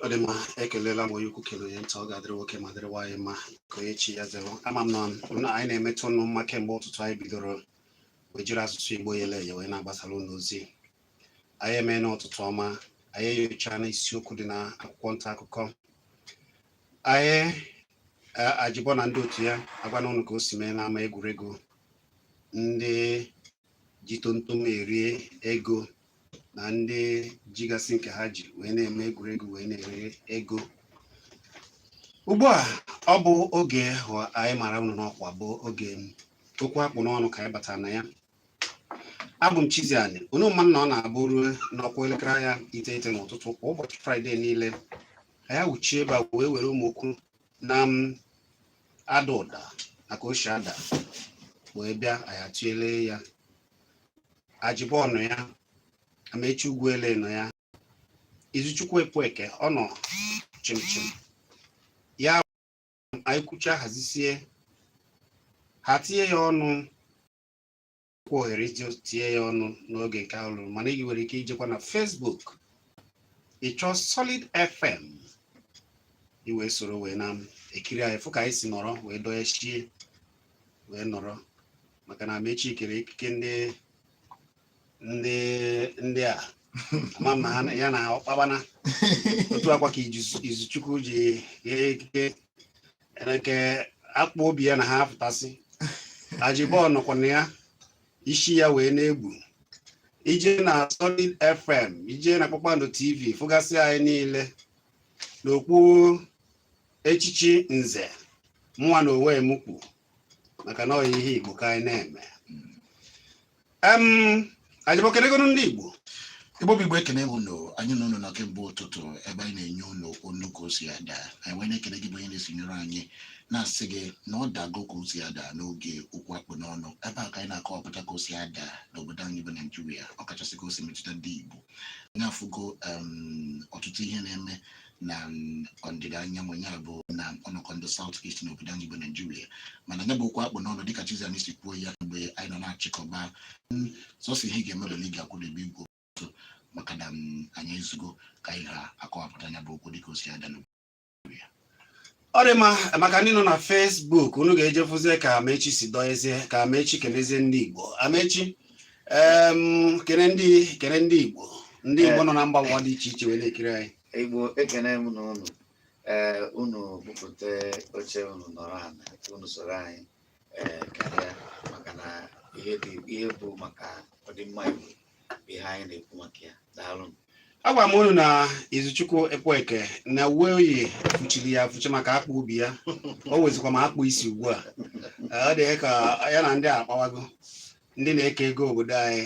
ọ dị mma ekelela m onye ukwu kelee onye nta ọ ga-adịrị nwoke ma dịrị nwaanyị mma ka onye chi ya zere ama m na anyị na-emeta unu mma kemgbe ụtụtụ anyị bidoro wee jiri asụsụ igbo yele eye wee na-agbasara unu ozi anyị emeena ụtụtụ ọma anyị enyochaana isiokwu dị na akwụkwọ nta akụkọ anyị Ajibo na ndị otu ya agwana unu ka o si mee n'ama egwuregwu ndị ji tontom erie ego na ndị jigasị nke ha ji wee na-eme egwuregwu wee na-eri ego ugbu a ọ bụ oge anyị mara unu n'ọkwa bụ oge okwu akpụ n'ọnụ ka anyị batara na ya abụ m Chizzy Ani unu ma na ọ na-abụrụ na ọ kụọ elekere anya iteghete n'ụtụtụ kwa ụbọchị fraịde niile anyị wuchie ebe a wee were ụmụ okwu na-ada ụda na ka o si ada wee bịa anyị atụlee ya Ajibo nọ ya Amechi Ugwuele nọ ya Izuchukwu Ekwueke ọ nọ chimchim ya anyị kwuchaa hazisie ha tinye ya ọnụ kwa ohere itinye ya ọnụ n'oge nke ahụ luru mana ị nwere ike ijekwa na Facebook ị chọọ Solid FM i wee soro wee na-ekiri anyị fụ ka anyị si nọrọ wee dọọ ya chie wee nọrọ maka na Amechi kere ekike ndị ndị ndị a ama m na ha ya na ọkpabana otu akwa ka Izu- Izuchukwu ji kee ekike nke akpụ obi ya na ha apụtasị Ajibo nọkwanụ ya isi ya wee na-egbu i jee na Solid FM i jee na Kpakpando TV fụgasị anyị niile n'okpu echichi nze mụnwa na onwe m kwu maka na ọya ihe Igbo ka anyị na-eme Ajibo kelegonụ ndị Igbo Igbo bụ Igbo ekene m unu anyị na unu nọ kemgbe ụtụtụ ebe anyị na-enye unu onu ka o si ada anyị wee na-ekele gị bụ onye na-esonyere anyị na-asị gị na ọ dago ka o si ada n'oge okwu akpụ n'ọnụ ebe a ka anyị na-akọwapụta ka o si ada n'obodo anyị bụ Naijiria ọkachasị ka o si metụta ndị Igbo anyị afụgo ọtụtụ ihe na-eme na ọdịda anyanwụ ya bụ na ọnọkọ ndị South East na obodo anyị bụ Naijiria mana ya bụ okwu akpụ n'ọnụ dịka Chizzy Ani si kwuo ya mgbe anyị nọ na-achịkọba sọsọ ihe ị ga-eme bụ na ị ga-akwụdebe igwe ozi maka na anyị ezugo ka anyị ha akọwapụta ya bụ okwu dịka o si ada n'ugbu a ọ dị mma maka ndị nọ na Facebook unu ga-eje fụzie ka Amechi si dọnyezie ka Amechi kenezie ndị Igbo Amechi em, kene ndị kene ndị Igbo ndị Igbo nọ na mba ụwa dị iche iche wee na-ekiri anyị Igbo ekene m na unu ee unu bupụta oche unu nọrọ ana unu soro anyị eh, karịa maka na ihe dị ihe bụ maka ọdịmma Igbo bụ ihe anyị na-ekwu maka ya daalụ agwa m unu na Izuchukwu Ekweke na uwe o yi fụchiri ya afụchi maka akpụ obi ya o wezikwa ma akpụ isi ugbu a eh, ọ dị ka ya na ndị akpawago ndị na-eke ego obodo anyị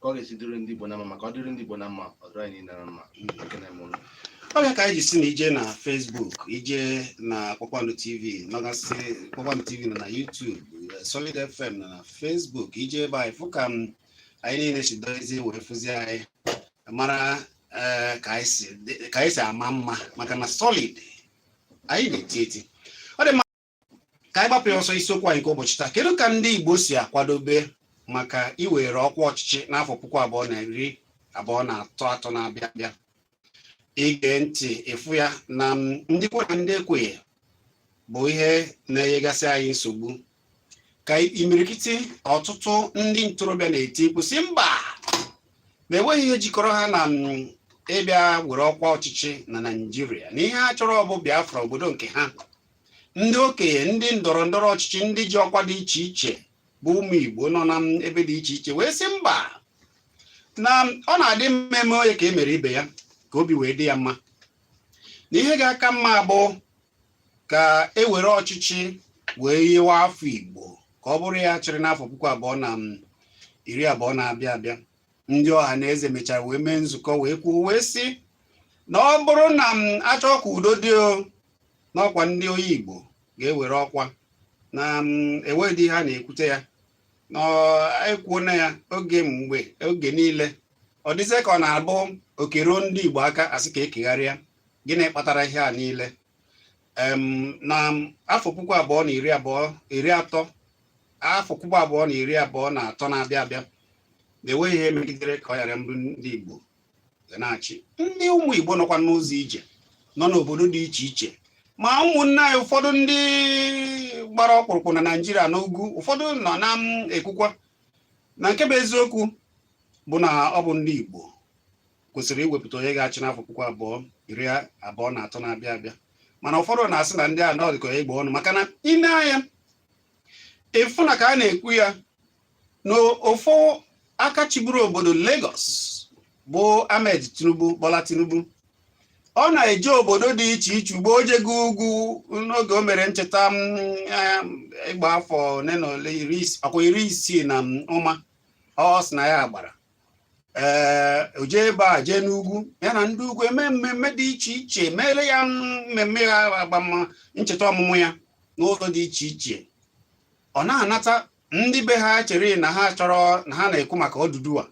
ka ọ ga-esi dịrị ndị Igbo na mma maka ọ dịrị ndị Igbo na mma ọ dịrị anyị niile na mma ekene m unu ọ bụ ya ka anyị ji sị na i je na Facebook i je na Kpakpando TV nọgasị Kpakpando TV nọ na YouTube eh, Solid FM nọ na Facebook i je ebe a ị fụ ka m anyị niile si dozie wee fụzie anyị mara eh, ka anyị si- ka anyị si ama mma maka na Solid anyị na-eti eti ka anyị gbapụ ya ọsọ isiokwu anyị nke ụbọchị taa kedu ka ndị Igbo si akwadobe maka iwere ọkwa ọchịchị n'afọ puku abụọ na iri abụọ na atọ na-abịa abịa i gee ntị ị fụ ya na ndị kwe na ndị ekweghị bụ ihe na-enyegasị anyị nsogbu ka imirikiti ọtụtụ ndị ntorobịa na-eti mkpu sị mba na enweghị ihe jikọrọ ha na ịbịa were ọkwa ọchịchị na Naịjirịa na ihe ha chọrọ bụ Biafra obodo nke ha ndị okenye ndị ndọrọ ndọrọ ọchịchị ndị ji ọkwa dị iche iche bụ ụmụ Igbo nọ na ebe dị iche iche wee sị mba na ọ na-adị mma e mee onye ka e mere ibe ya ka obi wee dị ya mma na ihe ga-aka mma bụ ka e were ọchịchị wee nye nwa afọ Igbo ka ọ bụrụ ya chịrị n'afọ puku abụọ na iri abụọ na-abịa abịa ndị Ọhaneze mechara wee mee nzukọ wee kwuo wee sị na ọ bụrụ na a chọọ ka udo dị na ọ kwa ndị onye Igbo ga-ewere ọkwa na mm, enweghị ihe a na-ekwute ya na ekwuo na ya oge mgbe oge niile ọ dịzie ka ọ na-abụ oke ruo ndị Igbo aka a sị ka e kegharịa gịnị kpatara ihe a niile na afọ puku abụọ na iri abụọ iri atọ afọ puku abụọ na iri abụọ na atọ na-abịa abịa na enweghị ihe megidere ka ọ ghara ịbụ ndị Igbo ga na-achị ndị ụmụ Igbo nọkwa n'ụzọ ije nọ n'obodo dị iche iche ma ụmụnne anyị ụfọdụ ndị gbara ọkpụrụkpụ na Naịjirịa n'ugwu ụfọdụ nọ na-ekwukwa na nke bụ eziokwu bụ na ọ bụ ndị Igbo kwesịrị iwepụta onye ga-achị n'afọ puku abụọ iri abụọ na atọ na-abịa abịa mana ụfọdụ na-asị na ndị a na ọdịkọ ya Igbo ọnụ maka na i nee anya ị fụ na ka a na-ekwu ya na ofu aka chịburu obodo Lagos bụ Ahmed Tinubu Bola Tinubu ọ na-eje obodo dị iche iche ugbu a o jego ugwu n'oge o mere ncheta ịgba afọ ole na ole ọkwa iri isii na ụma ọ sị na ya gbara ee o jee ebe a jee n'ugwu ya na ndị ugwu emee mmemme dị iche iche meere ya mmemme ya agbam ncheta ọmụmụ ya n'ụzọ dị iche iche ọ na-anata ndị be ha chere na ha chọrọ na ha na-ekwu maka Odùduwà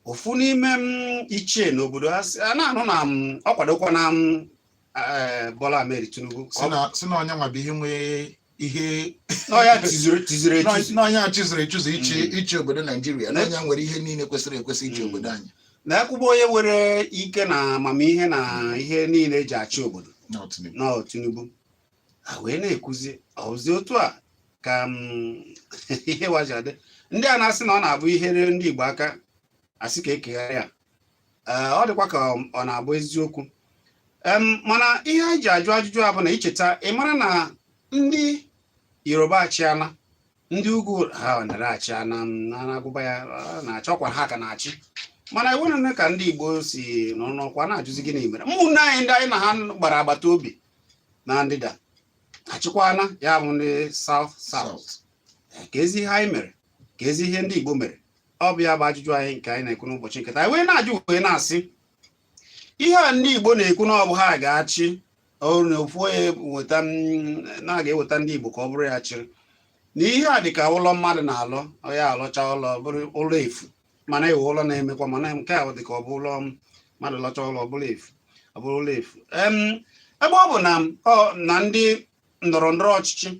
ofu n'ime m ichie n'obodo ha si- a na-anụ na m ọ kwadokwa na m eh, Bola Ahmed Tinubu sị na sị na onye nwa bụ ihe nwee ihe na ọ ya tozuru tozuru etozu na onye a tozuru etozu ịchị ịchị obodo Naijiria na onye nwere ihe niile kwesịrị ekwesị ịchị Mm. obodo anyị na e kwuba onye nwere ike na amamihe na ihe niile eji achị obodo na ọ Tinubu ha wee na-ekwuzi sị otu a ka ihe wa ji adị ndị a na-asị na ọ na-abụ ihe ruo ndị Igbo aka a sị ka e kegharịa ya ọ dịkwa ka ọ na-abụ eziokwu mana ihe anyị ji ajụ ajụjụ a bụ na i cheta ị mara na ndị Yoruba achịala ndị ugwu ha nara achịna na-agụba ya na-achọkwa ha ka na-achị mana iwe na ka ndị Igbo si n'ọnụ ọkwa na-ajụzi gịnị mere ụmụnne anyị ndị anyị na ha gbara agbata obi na ndịda achịkwana ya bụ ndị South South kezi ihe anyị mere kezi ihe ndị Igbo mere ọ bụ ya bụ ajụjụ anyị nke anyị na-ekwu n'ụbọchị nke taa anyị wee na-ajụ wee na-asị ihe a ndị Igbo na-ekwu na ọ bụ ha ga-achị ọ bụrụ na ofu onye weta na a ga-eweta ndị Igbo ka ọ bụrụ ya chịrị na ihe a dị ka ụlọ mmadụ na-alọ ya alọcha ụlọ bụrụ ụlọ efu mana e nwee ụlọ na-emekwa mana nke a dị ka ọ bụ ụlọ mmadụ lọcha ụlọ ọ bụrụ efu ọ bụrụ ụlọ efu Em, ebe ọ bụ na ọ na ndị ndọrọ ndọrọ ọchịchị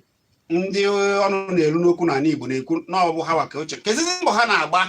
ndị ọnụ na-eru n'okwu n'ala Igbo na-ekwu na ọ bụ ha wa ga-achị kezizi mbọ ha na-agba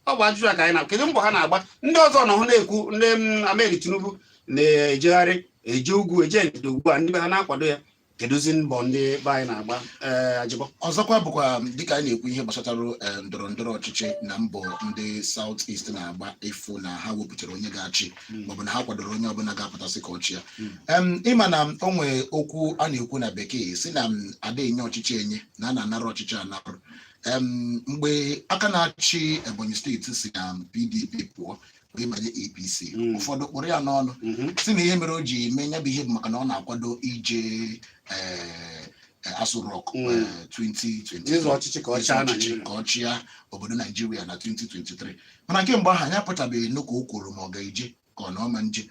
ọ bụ ajụjụ a ka anyị na kedu mbọ ha na-agba ndị ọzọ nọ hụ na-ekwu ndị mm, Ahmed Tinubu na-ejegharị eje ugwu eje ndịda ugbu a ndị be ha na-akwado ya kedụzi mbọ ndị be anyị na-agba ee Ajibo ọzọkwa bụkwa dịka anyị na-ekwu ihe gbasatara eh, ndọrọ ndọrọ ọchịchị na mbọ ndị South East na-agba ịfụ na ha wepụtara onye ga-achị maọbụ na ha kwadoro onye ọbụla ga-apụta sị ka ọ chịa Em, ị ma na o nwee okwu a na-ekwu na bekee sị na m ada enye ọchịchị enye na a na-anarụ ọchịchị anarụ Em, mgbe aka na-achị Ebonyi steeti si na PDP pụọ wee banye APC mm. ụfọdụ kpụrụ ya n'ọnụ mm-hmm. sị na ihe mere o ji mee ya bụ ihe bụ maka na ọ na-akwado ije eh, eh, Aso Rock 2020 ka ọ chịa obodo Naijiria na 2023 mana kemgbe ahụ ya apụtabeghị nnukwu o kwuru ma ọ ga-eje ka ọ na ọ ma eje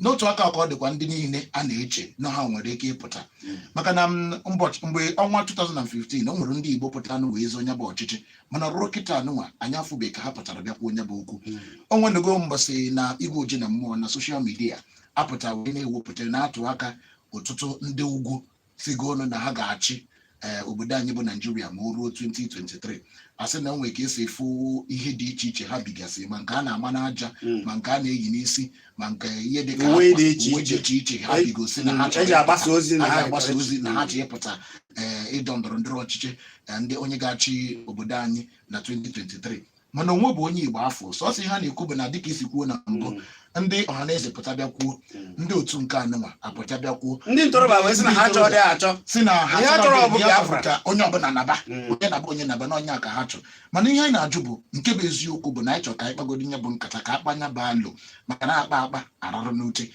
n'otu aka ka ọ dịkwa ndị niile a na-eche na ha nwere ike ịpụta mm. maka na mgbe ọnwa 2015 o nwere ndị Igbo pụtara na wee zọọ nya bụ ọchịchị mana ruo kịta anụnwa anyị afụbeghị ka ha pụtara bịa kwuo nya bụ okwu hmm. o nwenugo mbọsị na igwe oji na mmụọ na soshal midia apụta wee na-ewepụta na-atụ aka ọtụtụ ndị ugwu sigo ọnwụ na ha ga-achị eh, obodo anyị bụ Naijiria ma o ruo 2023 a sị na o nwere ka e si afụ ihe dị iche iche ha bigasị ma nke a na-ama n'aja hmm. ma nke a na-eyi n'isi ma nke ihe dị ka akwa, uwe dị iche iche ha bigasị na ha Mm, eji agbasa ozi na ha chọrọ ịpụta ee, ịdọ ndọrọ ndọrọ ọchịchị eh, ndị onye ga-achị obodo anyị na 2023 mana o nwebe onye Igbo a fụ sọsọ ihe a na-ekwu bụ na dịka i si kwuo na mbụ Mm, ndị Ọhaneze pụta bịa kwuo mm. ndị otu nke anụnwa apụta bịa kwuo ndị ntorobịa wee sị na ha chọrọ dị achọ sị na ihe ha chọrọ bụ Biafra ka onye ọbụla naba Mm. onye naba onye naba na ọ nya ka ha chọrọ mana ihe anyị na-ajụ bụ nke bụ eziokwu bụ na anyị chọrọ ka anyị kpagodi nya bụ nkata ka a kpaa nya bụ alo maka na a kpaa akpa a rarụ n'ute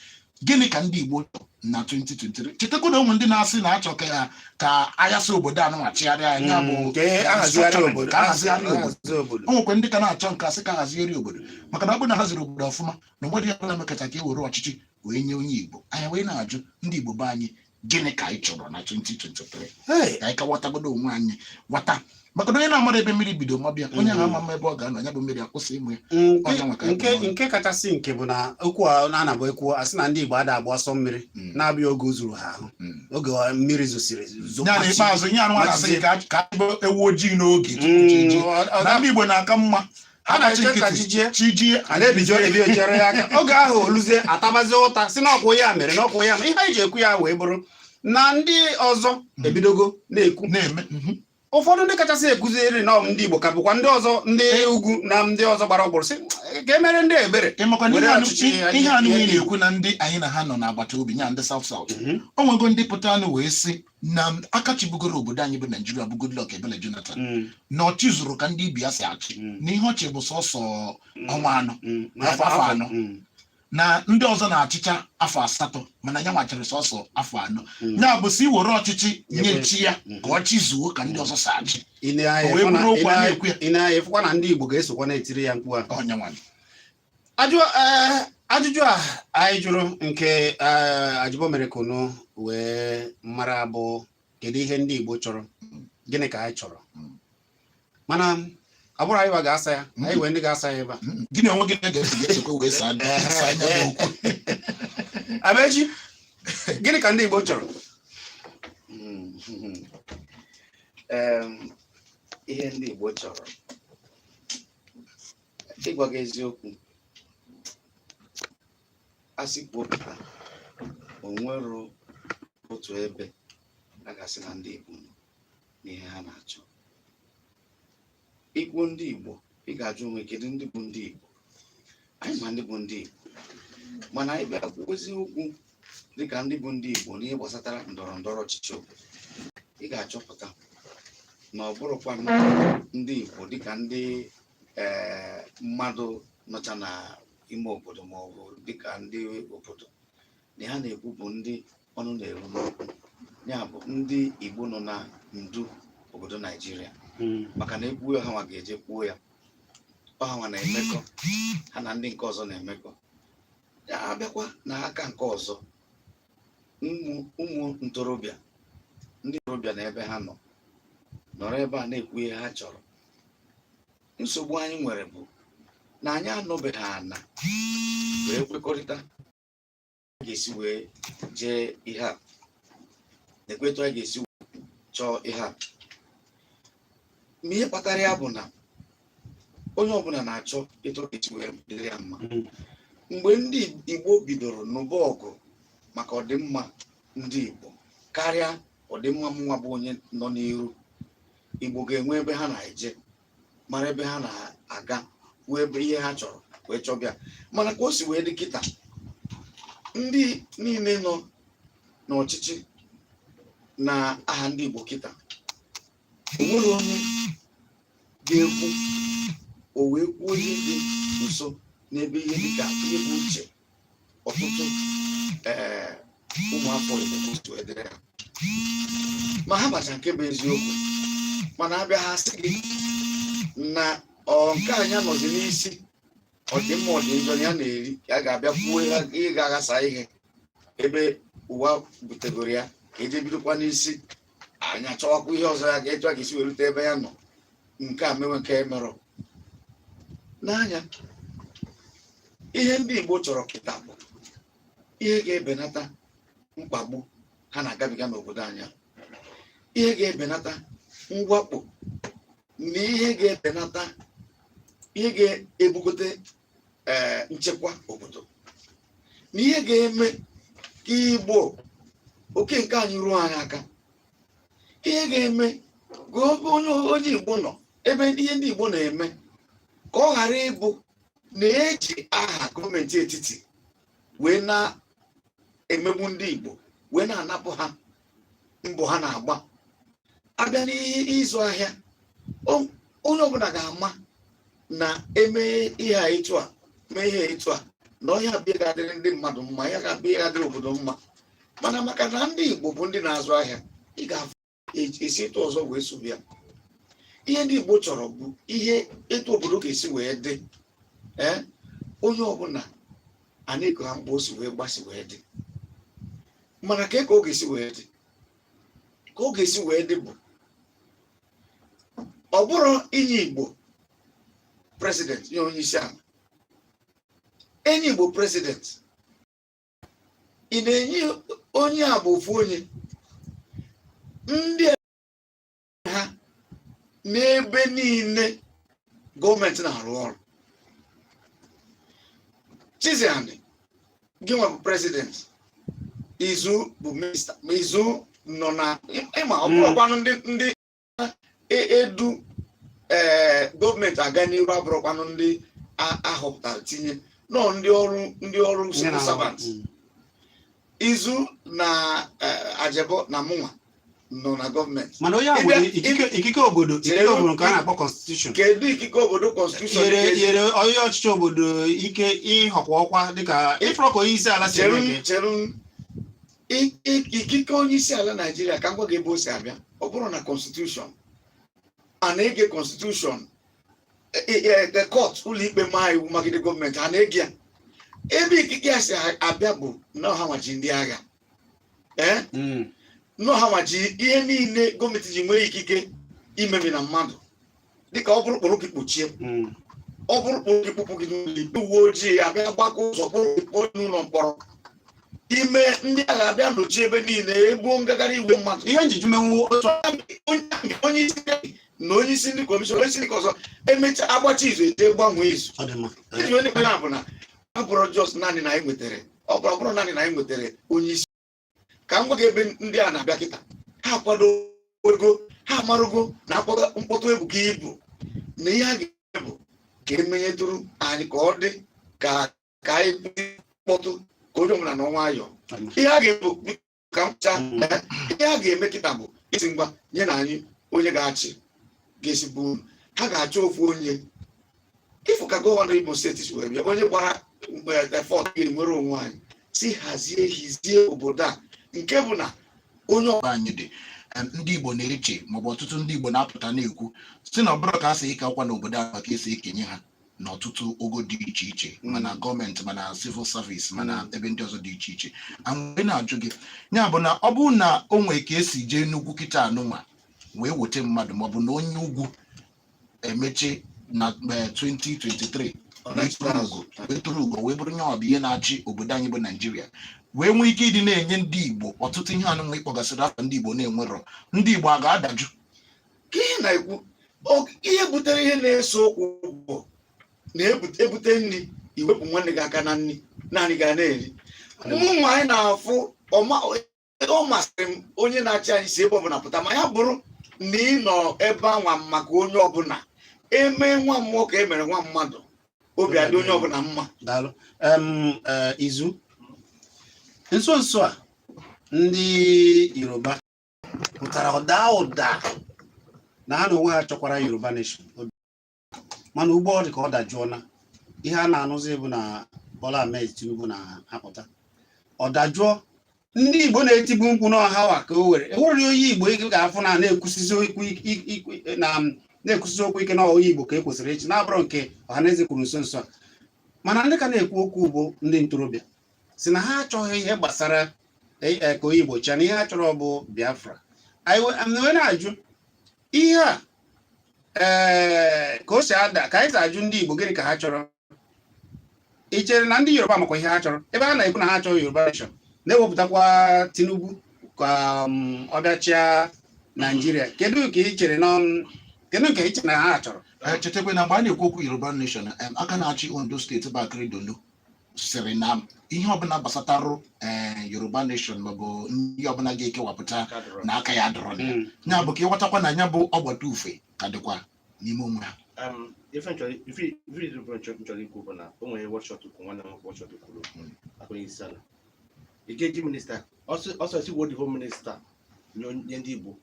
gịnị ka ndị Igbo chọrọ na 2023 chetakwa na o nwe ndị na-asị na achọ ka ya ka a yasa obodo anụnwa chịgharịa nya bụ Mm, ka e- a hazigharịa obodo ka a hazigharịa obodo ahazi obodo o nwekwa ndị ka na-achọ nke a sị ka a hazigharịa obodo maka na ọ bụrụ na a haziri obodo ọfụma na mmadụ ya bụla mekacha ka e were ọchịchị wee nye onye Igbo anyị wee na-ajụ ndị Igbo be anyị gịnị ka anyị chọrọ na 2023 Hey, ka anyị ka ghọtagodo onwe anyị ghọta maka na onye na-amarọ ebe mmiri bido maba ya onye ahụ Mm. ama ama ebe ọ ga-anọ ya bụ mmiri akwụsị ịma ya nke- Ọ nyanwa ka anyị nke bụ n'ọnụ. nke kachasị nke bụ na okwu a na-anabu ekwu a sị na ndị Igbo ada agba ọsọ mmiri Mm. na-abụ oge o zuru ha ahụ Mm. oge ọ- mmiri zosiri ya na zokwachi. ikpeazụ ihe anụ a na-asị gị ka a- ka a bụ ewu ojii n'oge tupu chi Mm, ejie. ọ- ọ- na ndị Igbo na-aka mma ha na-eche ka chi jie chi jie a na-ebijo ebi echere ya aka oge ahụ o luzie a tabazi ụta sị n'ọkwụ ya mere n'ọkwụ ya mere ihe anyị ji ekwu ya wee bụrụ na ndị ọzọ hmm. ebidogo na-ekwu na-eme mhm. ụfọdụ ndị kachasị ekwuziri na ndị Igbo ka bụkwa ndị ọzọ ndị eh. ugwu na ndị ọzọ gbara ọgbụrụ sị ka e meere ndị ebere ihe anụ na-ekwu na ndị anyị na ha nọ n'agbata obi nya ndị South South mhm. o nwego ndị pụtanụ wee sị na aka chịbugoro obodo anyị bụ Naijiria bụ Goodluck Ebele Jonathan mm. na ọ chịzurọ ka ndị ibe ya si achị mm. na ihe ọ chị bụ sọsọ mm. ọnwa anọ afọ afọ anọ na ndị ọzọ na-achịcha afọ asatọ mana nyanwa chịrị sọsọ afọ anọ ya bụ sị e were ọchịchị nyechie ya ka ọ chịzuo ka ndị ọzọ si achị wee bụrụ okwu a na-ekwu ya na ndị Igbo ga-esokwa na-etiri ya mkpu a eh, ajụjụ a anyị jụrụ nke eh, Ajibo mere ka unu wee mara bụ kedu ihe ndị Igbo chọrọ gịnị ka anyị chọrọ mana ọ bụrọ anyị ga-asa ya anyị nwee ndị ga-asa ya ebe a gị na onwe gị ga-esokwa wee saa Amechi gịnị ka ndị Igbo chọrọ ihe ndị Igbo chọrọ ịgwa gị eziokwu asị kwupụta o nwero otu ebe a ga-asị na ndị Igbo nọ n'ihe ha na-achọ ikwu ndị Igbo ị ga-ajụ onwe kedu ndị bụ ndị Igbo anyị ma ndị bụ ndị Igbo mana anyị bịa kwuozi okwu dịka ndị bụ ndị Igbo n'ihe gbasatara ndọrọ ndọrọ ọchịchị obodo ị ga-achọpụta na ọ bụrọkwa ndị Igbo dịka ndị ee mmadụ nọcha na ime obodo ma ọ bụ dịka ndị obodo na ha na-ekwu bụ ndị ọnụ na-eru n'okwu ya bụ ndị Igbo nọ na ndu obodo Naijiria hmm. maka na ekwuo ya ọ ha nwa ga-eje kwuo ya ọ ha nwa na-emekọ ha na ndị nke ọzọ na-emekọ abịakwa na aka nke ọzọ ụmụ ntorobịa ndị ntorobịa na ebe ha nọ nọrọ ebe a na-ekwu ihe ha chọrọ nsogbu anyị nwere bụ na anyị anọbeghị ana wee kwekọrịta a ga-esi wee jee ihe a na-ekwu etu a ga-esi chọọ ihe a ma ihe kpatara ya bụ na onye ọbụla na-achọ etu ọ ga-esi wee dịrị ya mma Mm. mgbe ndị igbo bidoro nụba ọgụ maka ọdịmma ndị igbo karịa ọdịmma mụnwa bụ onye nọ n'iru igbo ga-enwe ebe ha na-eje mara ebe ha na-aga wee ebe ihe ha chọrọ wee chọba ya mana ka o si wee dị kịta ndị niile nọ n'ọchịchị na aha ndị igbo kịta onwere onye ga-ekwu o wee kwuo ihe dị nso n'ebe ihe dịka ihe bụ uche ọtụtụ ee ụmụafọ Igbo kwụsụ edere ha ma ha macha nke bụ eziokwu mana abịa ha sị gị na ọ nke anyị nọzi n'isi ọdịmma ọdịnjọ ya na-eri ya ga-abịa kwuo ihe ga-aghasa ihe ebe ụwa butegoro ya ka eje bidokwa n'isi anyị achọwakwa ihe ọzọ ya ga-etu a ga-esi wee rute ebe ya nọ nke a mewe nke emerọ n'anya ihe ndị Igbo chọrọ kịta bụ ihe ga-ebenata mkpagbu ha na-agabiga n'obodo anyị a ihe ga-ebenata mwakpo na ihe ga-ebenata ihe ga-ebugote ee eh, nchekwa obodo na ihe ga-eme ka igbo oke nke anyị ruo anyị aka ihe ga-eme ka onye onye igbo nọ ebe ihe ndị igbo na-eme ka ọ ghara ịbụ na eji aha gọọmenti etiti wee na-emegbu ndị igbo wee na-anapụ ha mbọ ha na-agba abịa n'ihe ịzụ ahịa onye ọbụla ga-ama na eme ihe a etu a mee ihe etu a na ihe a bụ ihe ga-adịrị ndị mmadụ mma ihe a bụ ihe ga-adịrị obodo mma mana maka na ndị Igbo bụ ndị na-azụ ahịa ị ga-esi etu ọzọ wee sobe ya ihe ndị Igbo chọrọ bụ ihe etu obodo ga-esi wee dị ee onye ọbụla a na-ego ha mkpa o si wee gbasi wee dị mana ka ka ọ ga-esi wee dị ka ọ ga-esi wee dị bụ ọ bụrọ inye Igbo president nye onye isi ala enye Igbo president ị na-enye onye a bụ ofu onye ndị ha n'ebe niile gọọmenti na-arụ ọrụ Chiziani gị nwa bụ president Izu bụ minista ma Izu nọ na ịma ọ bụrọkwanụ ndị ndị e- edu ee gọọmenti aga n'iru abụrọkwanụ ndị a- ahọpụtara tinye na ọ ndị ọrụ ndị ọrụ civil servant Izu na eh, Ajebo na mụnwa nọ na gọọmenti mana onye a Ịbịa- nwere ikike ikike obodo ikike Chere- obodo nke a na-akpọ constitution kedu ikike obodo kọnstitushọn nyere ga-eji- nyere onye ọchịchị obodo ike ịhọkwa ọkwa dịka ị fụrụ ka onye isi ala si eme cheru gị cheru I- i- ikike onye isi ala Naijiria ka m gwa gị ebe o si abịa ọ bụrụ na kọnstitushọn a na-ege kọnstitushọn the court ụlọikpe ma iwu magide gọọmenti ha na-ege ya ebe ikike ya si abịa bụ na ọ ha nwa ji ndị agha ee mm. na ọ ha nwa ji ihe niile gọọmenti ji nwee ikike imemina mmadụ dịka ọ bụrụ kpọrọ gị kpọchie mm. ọ bụrụ kpụrụ gị kpụpụ gị n'ụlọ ikpe uwe ojii abịa gbakaa ụzọ kpụrụ gị kpụọ n'ụlọ mkpọrọ ime ndị agha abịa nọchie ebe niile egbuo ngagharị igwe mmadụ ihe njiji menwu otu onye isi na onye isi ndị kọmishọn onye isi ndị ọzọ emecha agbacha izu eje gbanwee izu ọ dị mma Ee, ndị onye kpere bụ na ọ bụrụ just naanị na anyị nwetara ọ bụrụ ọ bụrụ naanị na anyị nwetara onye isi ka m gwa gị ebe ndị a na-abịa kịta ha akwadogo ha amarugo na mkpọtụ ebuka ibu na ihe a ga-eme bụ ka emenyetụrụ anyị ka ọ dị ka ka anyị kpọtụ ka onye ọbụla nọọ nwayọọ ọ dị mma. ihe a ga-ebu ka mcha ihe ha ga-eme kịta bụ ịsị ngwa nye na anyị onye ga-achị ga-esi bụ uru ha ga-achọ ofu onye ịfụ ka gọvanọ Imo steeti si wee bịa onye gbara fourth ga-enwere onwe anyị si hazie hizie obodo a nke bụ na onye ọbụla anyị dị em, ndị Igbo na-eche maọbụ ọtụtụ ndị Igbo na-apụta na-ekwu si na ọbụrụ ka esi eke ọkwa n'obodo a ma ka esi ekenye ha n'ọtụtụ ogo dị iche iche mm. ma na gọọmenti ma na civil service ma na mm. ebe ndị ọzọ dị iche iche wee na-ajụ gị ya bụ na ọ bụrụ na o nwee ka e si jee n'ugwu kịta anụnwa wee weta mmadụ maọbụ na onye ugwu emechaa na 2023 eh, wee turu ugo wee bụrụ onye ọ bụ ya na-achị obodo anyị bụ naijiria wee nwee ike ịdị na-enye ndị igbo ọtụtụ ihe anụnwa ị kpọgasịrị afa ndị igbo na-enwerọ ndị igbo a ga-adajụ ka ị na-ekwu ihe butere ihe na-ese okwu bụ na e bute nri i wepụ nwanne gị aka na nri naanị gị a na-eri ụmụ nwaanyị na-afụ ọ masịrị m onye na-achị anyị si ebe ọbụla pụta ma ya bụrụ na ị nọ ebe anwa maka onye ọbụla e mee nwa mmụọ ka e mere nwa mmadụ obi adị onye ọbụla mma eh, izu nso nso a ndị yoruba pụtara ọ daa ụda na ha n'onwe ha chọkwara Yoruba Nation mana ugbu a ọ dị ka ọ dajụọla ihe a na-anụzi bụ na Bola Ahmed Tinubu na-apụta ọ dajụọ ndị Igbo na-etibu mkpu na ọ hanwa ka o were e were onye Igbo ị ga-afụ na na-ekwusizi okwu ike na onye Igbo ka e kwesịrị ichi na-abụrọ nke ọhaneze kwuru nso nso a mana ndị ka na-ekwu okwu bụ ndị ntorobịa si na ha achọghị ihe gbasara e, e, ka onye Igbo chịa na ihe ha chọrọ bụ Biafra wee na-ajụ ihe a ee ka o si ada ka anyị si ajụ ndị Igbo gịnị ka ha chọrọ ị chere na ndị Yoruba makwa ihe ha chọrọ ebe ha na-ekwu na ha chọrọ Yoruba nation na-ewepụtakwa Tinubu ka um, ọ bịa chịa Naijiria kedu ka ị chere na um, kedu nke i che na ha chọrọ eh, chetakwa na mgbe a na-ekwu okwu Yoruba nation aka na-achị Ondo steeti bụ Akeredolu sịrị na ihe ọbụla gbasatarụ eh, yoruba nation maọbụ ihe ọbụla ga-ekewapụta na aka ya adịrọ na ya Mm. ya bụ ka ị ghọtakwa na ya bụ ọgbata ufie ka dịkwa n'ime onwe ha Um, ife m chọrọ ife ife ife bụ m chọ- m chọrọ ikwu bụ na o nwere wọchọt kwuru nwanne m wọchọt kwuru Mm. ọkwa onye isi ala ị ga-eji minista ọsọ ọsọ si were the whole minista nye onye- nye ndị igbo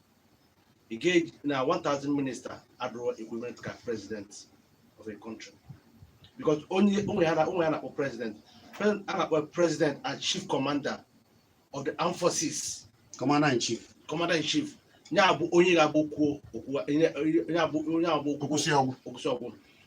Ị ga-afụ na 1,000 minister adịrọ equivalent ka president of a country. Because o nwere ihe a na-akpọ president, a na-akpọ president and chief commander of the armed forces. Commander in chief. Commander in chief. Nya bụ onye ga-abụ o kwuo okwu nya bụ onye ga-abụ o kwuo o kwusịa ọ gwụ.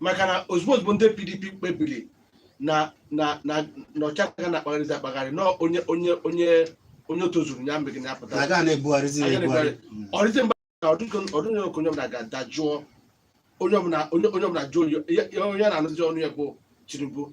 maka na ozugbo ozugbo ndị pdp kpebiri na na na na oche agaghị na-akpagharịzi akpagharị na onye onye onye onye tozuru ya mee gịnị ya apụta na agaghị na-ebugharịzi Agaghị ebugharị ọrịzi mba ka ọ dị ka onye ọbụla ga-adajụọ onye ọbụla onye onye ọbụla jụọ ya- ya onye a na-anụzi ọnụ ya bụ tinubu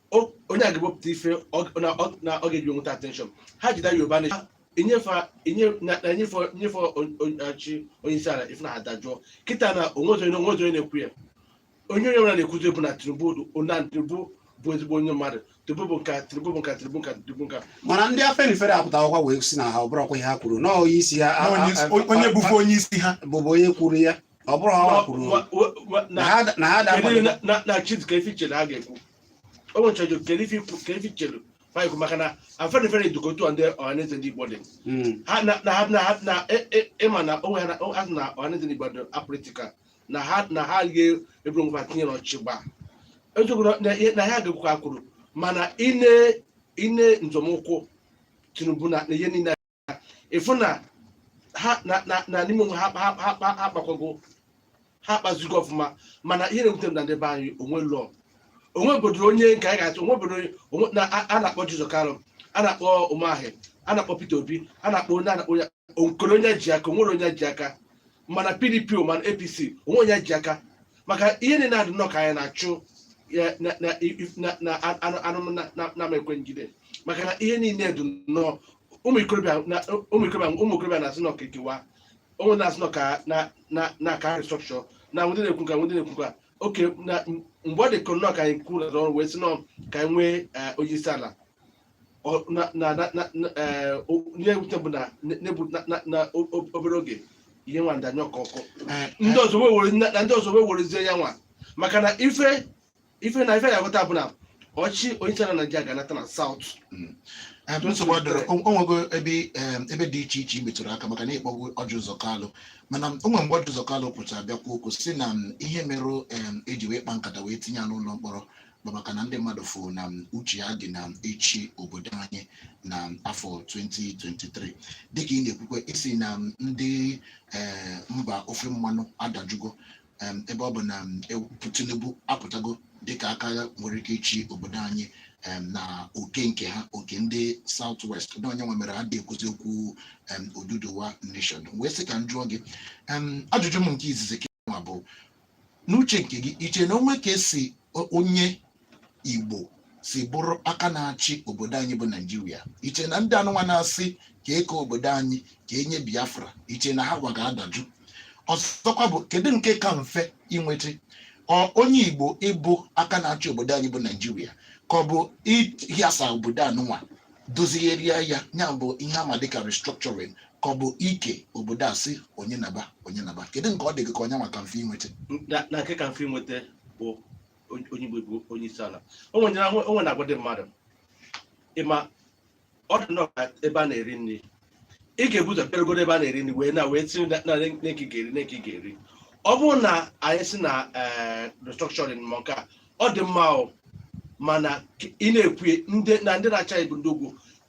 o- onye a ga-ewepụta ife ọ- na ọ- na ọ ga-eji nweta attention ha jide Yoruba Nation enyefe enye- na- na enyefe enyefe on- on- oche onye isi ala ịfụ na ha adajụọ kịta na onwezi onye onwezi onye na-ekwu ya onye onye ọbụla na-ekwuzi bụ na tinubu na tinubu bụ ezigbo onye mmadụ tinubu bụ nka tinubu bụ nka tinubu nka tinubu nka mana ndị Afenifere apụtakwa wee sị na ha ọ bụrụkwa ihe ha kwuru na onye isi ha a- a- Onye- a- onye bụbu onye isi ha bụbu onye kwuru ya ọ bụrụ ha wa- kwuru wa- wa- wa- na na- ha na ha kedu dakwado na- na- na chiz ke ife i chere ha ga-ekwu o nwere chọjụ kedu ife ikwu- ke ife i chere fa ya-ekwu maka na Afenifere dịka otu a ndị ọhaneze ndị igbo dị Mm, ha na na ha na ha na e- e- ịma na onwe ha na ha sị na ọhaneze ndị igbo dị apolitical na ha na ha ga-eburu ngwa tinye n'ọchị gba eziokwu na- na ihe- na ha ga-ekwu ka kwuru mana ine ine nzọmụkwụ tinubu na na ihe niile ịfụ na ha na na na n'ime onwe ha ha ha ha ha akpakwago ha akpazigo ọfụma mana ihe na-ewute m na ndị be anyị onwe lụọ onwe obodo onye nke anyị ga-achọ onwe obodo onye- onwe na a a na-akpọ Ọjị Ụzọ Kalụ a na-akpọ Umahi a na-akpọ Peter Obi a na-akpọ onye a na-akpọ onye onwero onye ji aka onwere onye ji aka ma na PDP o ma na APC onwe onye ji aka maka ihe niile adị nnọọ ka anyị na-achụ ya na na na na anụ anụ na na na ekwe njide maka na ihe niile dị nnọọ ụmụ ikorobịa na ụmụ ikorobịa ụmụ ikorobịa na-asị na ọ ka ekewa onwe na-asị na ọ ka na na na ka restructure na onwe ndị na-ekwu nka onwe ndị na-ekwu nka oke na m- mgbe ọ dị ka nnọọ ka anyị kwuru na ọrụ wee sị na ọ ka anyị nwee eh, onye isi ala Ọ- na na na na na, eh, o- ihe ewute bụ na na- na-ebu- na- na- na o- o- obere oge ihe nwa ndanye ọkụ ọkụ ndị ọzọ wee were na ndị ọzọ wee werezie ya nwa maka na ife ife na ife ị ya-aghọta bụ na oche onye isi ala naijiria ga-anata na South Em, nsogbu adịrọ o o nwego ebe em, ebe dị iche iche i metụrụ aka maka na ị kpọbu Ọjị Ụzọ Kalụ mana o nwere mgbe Ọjị Ụzọ Kalụ pụtara bịa kwuo okwu sị na m, ihe merụ em, eji wee kpa nkata wee tinye ya n'ụlọ mkpọrọ bụ maka na ndị mmadụ fụ na m, uche ya dị na m, ịchị obodo anyị na m, afọ 2023 dịka ị na-ekwukwa ị sị na m, ndị eh, mba ofe mmanụ adajụgo em, ebe ọ bụ na em, e- Tinubu apụtago dịka aka nwere ike ịchị obodo anyị em, na oke nke ha oke ndị South West na ọ ya nwa mere ha adị ekwuzi okwu em, Oduduwa Nation wee sị ka m jụọ gị em, ajụjụ m nke izizi ke nwa bụ n'uche nke gị iche na onwe ka esi o- onye igbo si bụrụ aka na-achị obodo anyị bụ naijiria iche na ndị anụnwa na-asị ka eke obodo anyị ka enye biafra iche na ha nwa ga-adajụ ọzọkwa bụ kedu nke ka mfe inweta onye igbo ịbụ aka na-achị obodo anyị bụ naijiria ka ọ bụ ịhịasa obodo anụnwa dozigharịa ya ya bụ ihe ama dịka restructuring ka ọ bụ ike obodo a sị onye naba onye naba kedu nke ọ dị gị ka ọ ya-aka mfe inweta na nke ka mfe inweta bụ onye Igbo bụ onye isi ala o nwere na- o nwere na-agwa ndị mmadụ ịma ọ dị nnọọ ka ebe a na-eri nri ị ga-ebu ụzọ bịarugodo ebe a na-eri nri wee na wee tinye na na nke ị ga-eri nke ị ga-eri ọ bụrụ na anyị si na eh, restructuring ma nke a ọ dị mma o mana k- ị na-ekwu ya, ndị na ndị na-achị bụ ndị ugwu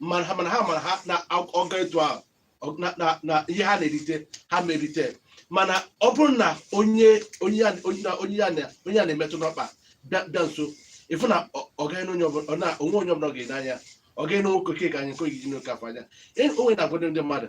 mana ha mana ha mara ha na ọ gaa etu ahụ ọ- na- na- na ihe ha na-erite ha ama erite mana ọ bụrụ na onye onye ya onye ya- onye ya na- onye ya na-emetụ n'ọkpa bịa bịa nso ịfụ na ọ- ọ gaghị na onye ọbụla ọ na onwe onye ọbụla ọ ga-ene anya ọ gaghị na nwoke ka anyị nke ogidi n'oke afọ anya E- o nwere na-agwado ndị mmadụ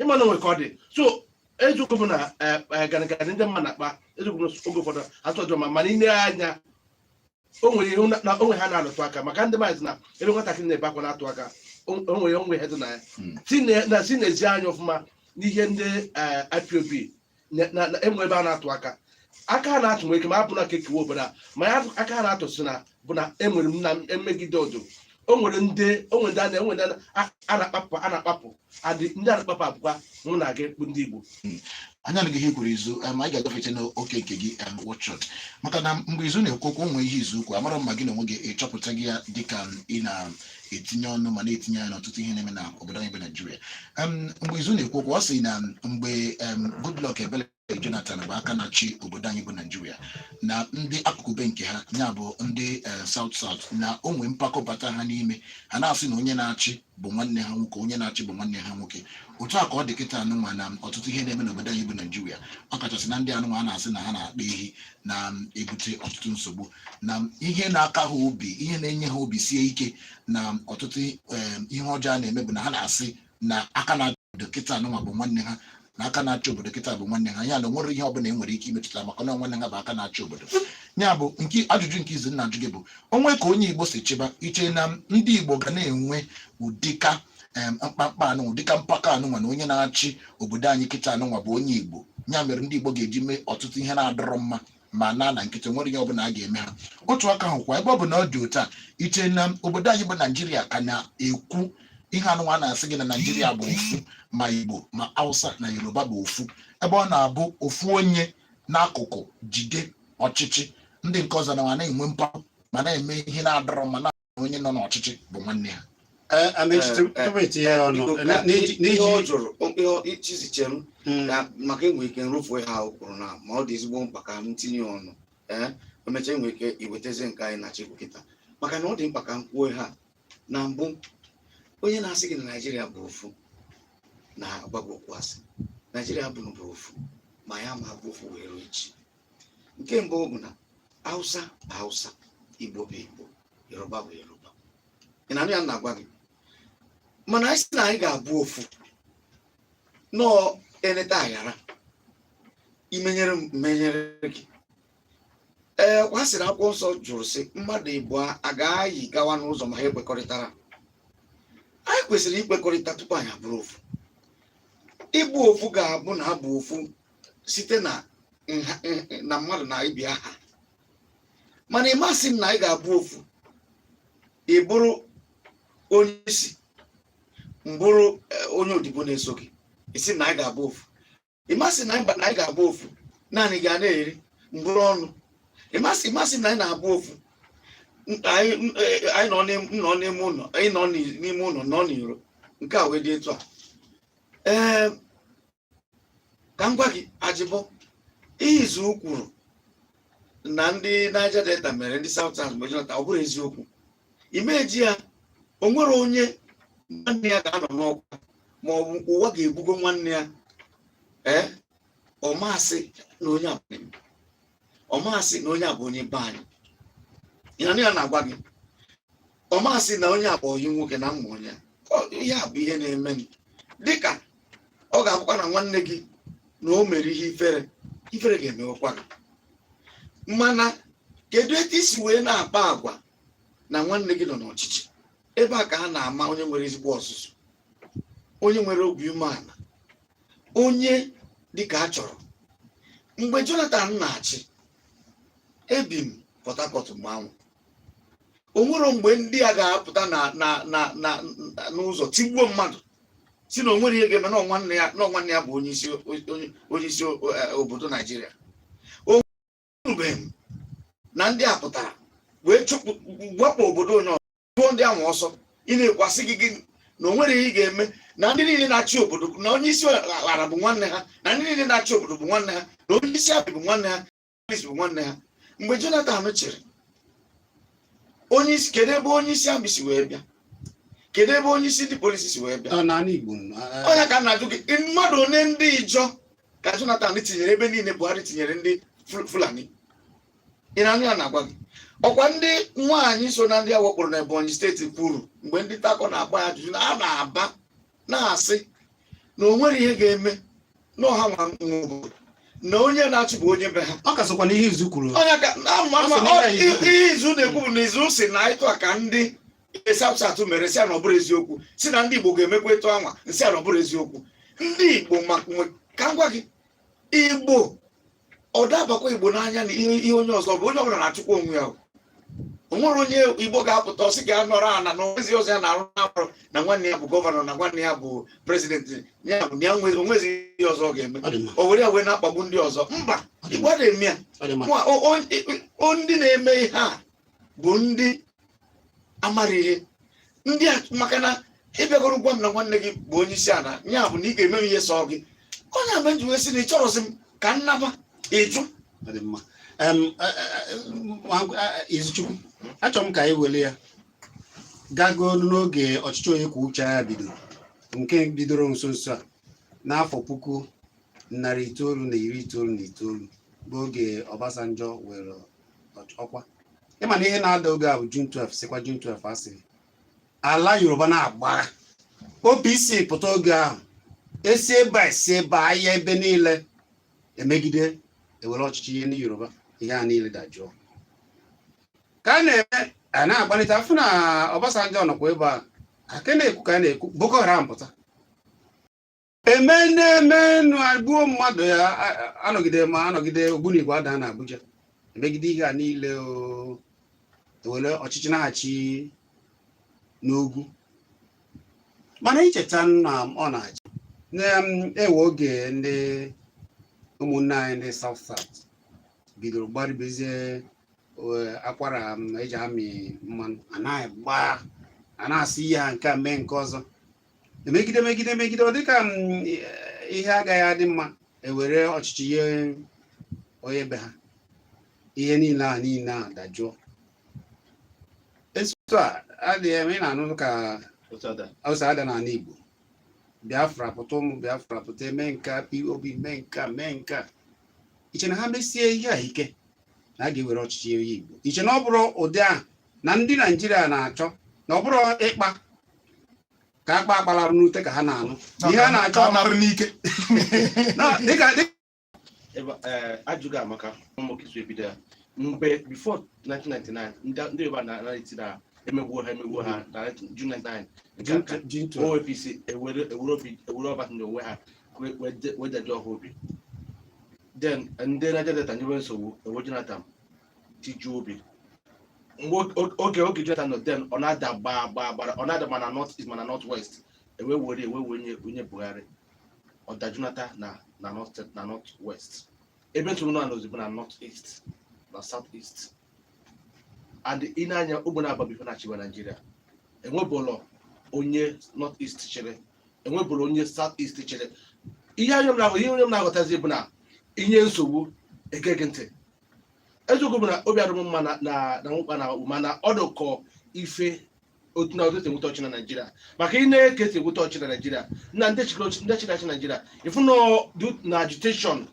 ịma na o nwe ka ọ dị so eziokwu bụ na eh, eh, ganịganị ndị mma na-akpa eziokwu bụ na oge ụfọdụ adịrọ mma mana ile anya o nwere ihe na- na o nwe ihe ha na-alụtụ aka maka ndị mmadụ sị na ebe nwatakịrị na-ebe akwa na-atụ aka o o nwere o nwe ihe dị na ya Mm. si na- na so ị nezie anya ọfụma n'ihe ndị eh, IPOB na- na- na- enwe ebe a na-atụ aka aka a na-atụ nwere ike ma abụ na ka e kewaa obodo a ma ya atụ- aka a na-atụ si na bụ na enwere m na emegide ọdụ o nwere ndị o nwere ndị a na- enwere ndị a na- a- a na-akpapụ a na-akpapụ adị ndị a na-akpapụ abụkwa mụ na gị bụ ndị Igbo anyị anụgo ihe i kwuru izu em, anyị ga-agafecha n'oke nke gị em, wọchọt maka na mgbe izu na-ekwu okwu o nwe ihe izu kwuru amara m ma gị na onwe gị ịchọpụtago ya dịka ị na etinye ọnụ ma na-etinye anya n'ọtụtụ ihe na-eme na obodo anyị bụ naijiria Em, mgbe izu na-ekwu okwu ọ sị na mgbe em, goodluck ebele jonathan bụ aka na-achị obodo anyị bụ naijiria na ndị akụkụ be nke ha ya bụ ndị eh, south south na o nwee mpako bata ha n'ime ha na-asị na onye na-achị bụ nwanne ha nwoke onye na-achị bụ nwanne ha nwoke otu a ka ọ dị kịta anụnwa na ọtụtụ ihe na-eme n'obodo anyị bụ naijiria ọ kachasị na ndị anụnwa a na-asị na ha na-akpa ehi na-ebute ọtụtụ nsogbu na ihe na-aka ha obi ihe na-enye ha obi sie ike na ọtụtụ em, ihe ọjọọ a na-eme bụ na ha na-asị na aka na-achị obodo kịta anụnwa bụ nwanne ha na aka na-achị obodo kịta bụ nwanne ha ya na onwerọ ihe ọbụla e nwere ike imetụta maka na nwanne ha bụ aka na-achị obodo ya bụ nke ajụjụ nke izu na-ajụ gị bụ o nwee ka onye igbo si chịba i che na ndị igbo ga na-enwe ụdịka em, mkpamkpa anụ ụdịka mpako anụnwa na onye na-achị obodo anyị kịta anụnwa bụ onye igbo ya mere ndị igbo ga-eji mee ọtụtụ ihe na-adịrọ mma ma naa na nkịtị onwerọ ihe ọbụla a ga-eme ha otu aka ahụ kwa ebe ọ bụ na ọ dị otu a i che na obodo anyị bụ naijiria ka na-ekwu ihe anụnwa na-asị gị na naijiria bụ ofu ma igbo ma hausa na yoruba bụ ofu ebe ọ na-abụ ofu onye n'akụkụ jide ọchịchị ndị nke ọzọ na ma na-enwe mpako ma na-eme ihe na-adịrọ mma na onye nọ n'ọchịchị bụ nwanne ha Eh, Amaechi, tu- Eh, eh, tupu itinye ya ọnụ Biko, eh, ka- n'iji- ihe n'iji ọ jụrụ ihe ichiziche m Mm, na maka enwe ike nrụfu ha o kwuru na ma ọ dị ezigbo mkpa ka m tinye ọnụ ee emecha enwe ike iwetazi nke anyị na-achọ ikwu kịta maka na ọ dị mkpa ka m kwuo ya na mbụ onye na-asị gị na naijiria bụ ofu na-agwa gị okwu asị naijiria abụrọ ofu ma ya ama abụ ofu wee ruo echi nke mbụ bụ na hausa bụ hausa igbo bụ igbo yoruba bụ yoruba ị na-anụ ihe m na-agwa gị mana anyị sị na anyị ga-abụ ofu na ọ eleta aghara i menyere m m menyere gị ee kwa a sịrị akwụkwọ nsọ jụrụ sị mmadụ ịbụọ a ga-ayị gawa n'ụzọ ma ha ekwekọrịtarọ anyị kwesịrị ikwekọrịta tupu anyị abụrụ ofu ịbụ ofu ga-abụ na a bụ ofu site na na mmadụ na ibe ya aha mana ị ma asị m na anyị ga-abụ ofu ị bụrụ onye isi m bụrụ e, onye odibo na-eso gị ị sị na anyị ga-abụ ofu ị ma asị na anyị ga-abụ ofu naanị gị a na-eri m buru ọnụ ị ma asị ị ma asị na anyị na-abụ ofu anyị e, nọ n'ime ụlọ anyị nọ n'ime ụlọ nọ n'iro nke a wee dị etu a ee ka m gwa gị ajịbọ ihe izu kwuru na ndị Niger Delta mere ndị South South mgbe Jonathan ọ bụrọ eziokwu imeji ya o nwere onye nwanne ya ga-anọ n'ọkwa ma ọ bụ ụwa ga-ebugo nwanne ya ee ọ ma asị na onye a bụ ọ ma asị na onye a bụ onye be anyị ị na-anụ ihe m na-agwa gị ọ ma asị na onye a bụ onye nwoke na mma onye ihe a bụ ihe na-eme gị dịka ọ ga-abụkwa na nwanne gị na o mere ihe ifere ifere ga-emewekwa gị mana kedu etu i si wee na-akpa agwa na nwanne gị nọ n'ọchịchị ebe a ka a na-ama onye nwere ezigbo ọzụzụ onye nwere obi umeala onye dịka a chọrọ mgbe Jonathan na-achị ebi m Port Harcourt mgbe ahụ o nwere mgbe ndị a ga-apụta na na na na n'ụzọ tigbuo mmadụ sị na o nwere ihe ga-eme na ọ nwanne ya na ọ nwanne ya bụ onye isi onye isi eh, obodo Naijiria anụbeghị m na ndị a pụtara wee chụpụ wakpo obodo onye ọzọ chụọ ndị ahụ ọsọ ị na-ekwu a sị gị gịnị na o nwere ihe ị ga-eme na ndị niile na-achị obodo na onye isi ala bụ nwanne ha na ndị niile na-achị obodo bụ nwanne ha na onye isi army bụ nwanne ha polis bụ nwanne ha mgbe jonathan chịrị onye isi kedu ebe onye isi army si wee bịa kedu ebe onye isi ndị polisi si wee bịa ọ na ala igbo nọ, a- ọ nya ka m na-ajụ gị mmadụ one ndị ijaw ka Jonathan tinyere ebe niile Buhari tinyere ndị Fulani ị na-anụ ihe m na-agwa gị ọkwa ndị nwaanyị so na ndị a wakporo na Ebonyi steeti kwuru mgbe ndị nta akụkọ na-agba ya ajụjụ na ha na-aba na-asị na o nwere ihe ga-eme na ọ ha nwe obodo na onye na-achị bụ onye be ha ọ ka sokwa n'ihe izu kwuru onye ka ama Ọ sị na ihe izu na-ekwu bụ na izu si na etu a ka ndị ihe South South mere si na ọ bụrụ eziokwu si na ndị igbo ga-emekwa etu anwa nsị na ọ bụrụ eziokwu ndị igbo ka m gwa gị igbo ọ da abakwa igbo n'anya na ihe onye ọzọ bụ onye ọbụla na-achụkwa onwe ya o nwere onye igbo ga-apụta ọ sị ga anọrọ ana na o nwezi ọzọ ya na-arụ n'afọrọ na nwanne ya bụ gọvanọ na nwanne ya bụ prezidenti ya bụ na ya o nwezi ihe ọzọ ọ ga-eme o were ya wee na-akpagbu ndị ọzọ mba igbo adị eme ya ndị na-eme ihe a bụ ndị amara ihe ndị a maka na ị bịagoro gwa m na nwanne gị bụ onye isi ala ya bụ na ị ga-eme ihe sọ gị ọ nya me nji wee sị na ị chọrọzi m ka nnaba ịjụ Ọ dị mma. Em, e, e, e, nwa- e, e, Izuchukwu achọrọ m ka anyị were ya gago n'oge ọchịchị onye kwuo uche ya bidoro nke bidoro nso nso a n'afọ puku narị itoolu na iri itoolu na itoolu bụ oge Obasanjo were ọkwa ị ma na ihe na-ada oge ahụ June 12 sikwa June 12 asị ala Yoruba na-agbagha OPC pụta oge ahụ esi ebe a esi ebe a aya ebe niile emegide ewere ọchịchị nye ndị Yoruba ihe a niile dajụọ ka a na-eme a na-agbalite a fụ na Obasanjo nọkwa ebe ahụ ka a na-ekwu ka a na-ekwu Boko Haram pụta eme na-eme nụ agbuo mmadụ ya a- a- anọgide ma anọgide ogbunigwe ada na abuja emegide ihe a niile o ewere ọchịchị na-achị n'ugwu mana i cheta na ọ na-achị na-ewe oge ndị ụmụnne anyị ndị South South bidoro gbaribezie eh, akwara eji amị mmanụ a na-agba a na-asị ihe a nke a mee nke ọzọ emegide megide megide ọ dịka mm, ihe agaghị adị mma ewere ọchịchị nye onye be ha ihe niile a niile a dajụọ etu a adịghị eme ị na-anụ ka o si ada n'ala Igbo Biafra pụta ụmụ Biafra pụta eme nka IPOB mee nka mee nka i che na ha mesie ihe a ike na a ga-ewere ọchịchị nye Igbo i che na ọ bụrụ ụdị ahụ na ndị naijiria na-achọ na ọ bụrụ ịkpa ka akpa akpa alarụ n'ute ka ha na-anụ ihe a na-achọ narụ n'ike dịka ajụjụ gị amaka ụmụkisu ebido ya mgbe before 1999 ndị yoruba na-eti na emegbuo ha emegbuo ha na June 99 OPC ewere Obasanjo nye ha wee dajụọ ha obi then ndị Niger Delta nyewe nsogbu ewee Jonathan tiju obi oge oge Jonathan nọ then ọ na-ada gbaa gbaa gbara ọ na-ada ma na north east ma na north west ewe were ewe wee nye onye Buhari ọ dajụnata na na north na north west ebe nsogbu nọzi bụ na north east na south east and ị nee anya ụgbọ na-aba bụ ife na-achịba Naijiria enwebulo onye north east chịrị enwebulo onye south east chịrị ihe onye m na-aghọtazi bụ na i nye nsogbu e gee gị ntị eziokwu bụ na obi adịm mma na na na nwụkpa na akpakpụ mana ọ dụkọ ife otu na otu e si enweta ọchị na naijiria maka ị nee ka e si enweta ọchị na naijiria na ndị chịrị ọchị- ndị chịrị achị naijiria ị fụ na ọ dị na agitation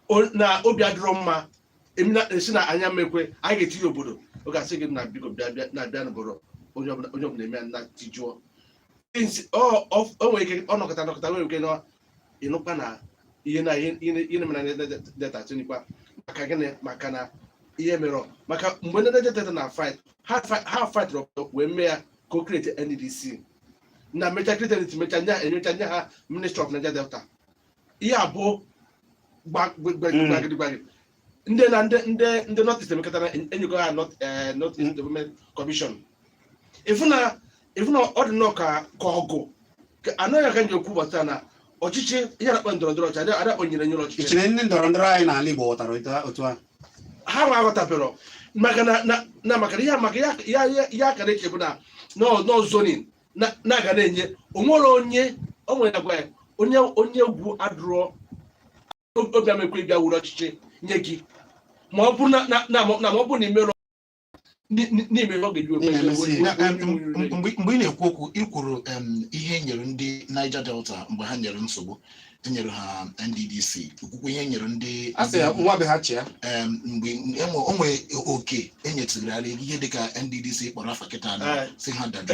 o- na obi adịrọ mma emi na- a sị na anyị ama ekwe anyị ga-eti ya obodo ọ ga-asị gị na biko bịa bịa na bịa n'obodo onye ọbụla onye ọbụla eme ya na tijuo Since ọ ọ- o nwere ike ọ nọkọta nọkọta nwere ike na ị nụkwa na ihe na ihe ihe mere na delta tinikwa maka gịnị maka na ihe mere maka mgbe ndị delta na fight ha fight wee mee ya ka o create nddc na mecha create mecha nya enyocha nye ha ministry of niger delta ihe abụọ gbagidigbagi ndị na ndị ndị ndị north east emekọta na enyego ha north eh, north east development commission ị fụ na ị fụ na ọ dị nnọọ ka ka ọgụ ka anaghị aga nje okwu gbasara na ọchịchị ihe a na-akpọ ndọrọ ndọrọ ọchịchị a da akpọ nyere nyere ọchịchị i che na ndị ndọrọ ndọrọ anyị n'ala igbo ghọtara otu a- otu a ha nwa aghọtabero maka na na- na maka na ihe maka ya ya ya- ya ka na-eche bụ na nọ nọ zoning na na-aga na-enye o nwero onye o nwere agwa ya onye onye egwu adịrọ obi ama ekwe bịa wuru ọchịchị nye gị ma ọ bụrụ na ma ọ bụrụ na i mero n'ime ọ ga-eji mgbe ị na-ekwu okwu ị kwuru ihe e nyere ndị Niger Delta mgbe ha nyere nsogbu e nyere ha NDDC i kwukwe ihe e nyere ndị mgbe enwe onwe oke enyetụgharị ihe dịka NDDC kpọrọ afa kịta si ha dada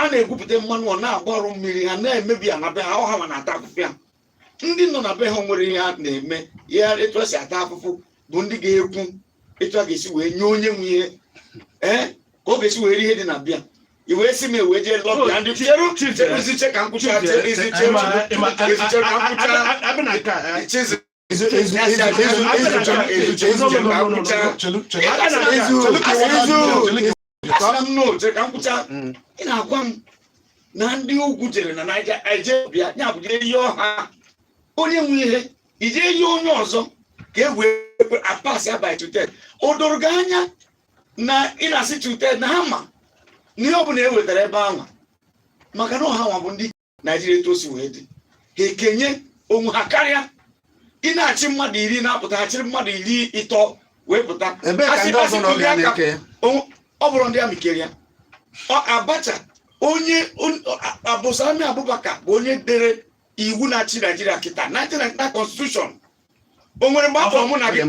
a na-egwupụta mmanụ ọ na-agbarụ mmiri ha na-emebi ana be ha ọ ha nwa na-ata afụfụ ya ndị nọ na be ha nwere ihe ha na-eme ihe etu e si ata afụfụ bụ ndị ga-ekwu etu a ga-esi wee nye onye nwe ihe ee ka ọ ga-esi wee rie ihe dị na be ya i wee si m e wee jee lobby ya ndị cheru cheruzi che ka m kwuchaa cheruzi che cheruzi che ka m kwuchaa a bịa na nke a eh, chizi Ezu ezu ezu ezu ezu chọrọ ezu chọrọ ezu chọrọ ka m kwuchaa chelu chelu Aka na aka. ezu Chelu ka ezu chelu ka Asịla m no, chere ka m kwuchaa. Mm. Ị na-agwa m na ndị ugwu jere na Naịja eje bịa ya bụ jee yọọ ha onye nwe ihe i je yọọ onye ọzọ ka e wee pass ya by two third o doro gị anya na ị na-asị two third na ha ma na ihe ọ bụla e wetara ebe ahụ maka na ọ ha nwa bụ ndị naijiria etu o si wee dị ha ekenye onwe ha karịa ị na-achị mmadụ iri na-apụta ha chịrị mmadụ iri ịtọ wee pụta Ebee ka Asị- ndị ọzọ asị nọ tụli bịa aka. na-eke ya? O- ọ bụrụ ndị amị kere ya Ọ Abacha onye on- a- Abdulsalami Abubakar bụ onye dere iwu na-achị naijiria kịta 1999 constitution o nwere mgbe a kpọ mụ na gị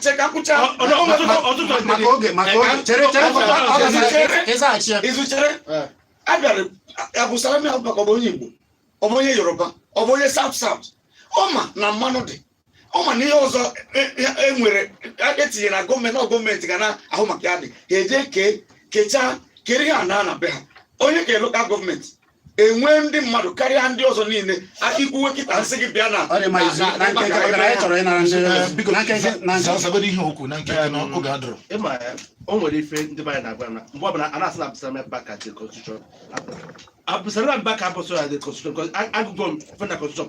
chere ka m kwuchaa izu chere abịara Abdulsalami Abubakar ọ bụ onye Igbo ọ bụ onye Yoruba ọ bụ onye South South ọ ma na mmanụ dị ọ ma na ihe ọzọ e nwere etinyere na gọọmenti na gọọmenti ga na-ahụ maka ya dị ha eje kee kechaa kere ihe a na na be ha onye ka lokal gọọmenti enwee ndị mmadụ karịa ndị ọzọ niile i kwuwe kịta a sị gị bịa na o nwere ife ndị be anyị na-agwa na mgbe ọbụla a na-asị na Abdulsalam Abubakar dee constitution Abdulsalam Abubakar abụrọ sọ ya dee constitution agụgo m ife na constitution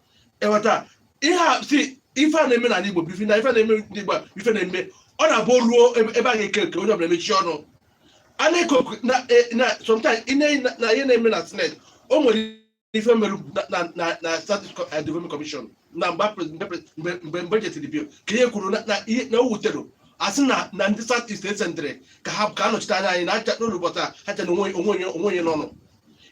ị ghọta ihe a si ife a na-eme n'ala Igbo bụ ife na ife na-eme ndị Igbo ife na-eme ọ na-abụ ruo ebe a ga-eke eke onye ọbụla emechi ọnụ a na-eke oku na e, na sometimes na ihe na-eme na Senate o nwere ife mere na South East eh, development commission na mgbe mgbe jetiri bill ka ihe kwuru na o wutere asị na na ndị south east e sendịrị ka ha ka anọchite anya anyị na ha cha anọrọ ụbọchị a ha cha na o nwero onye nọnụ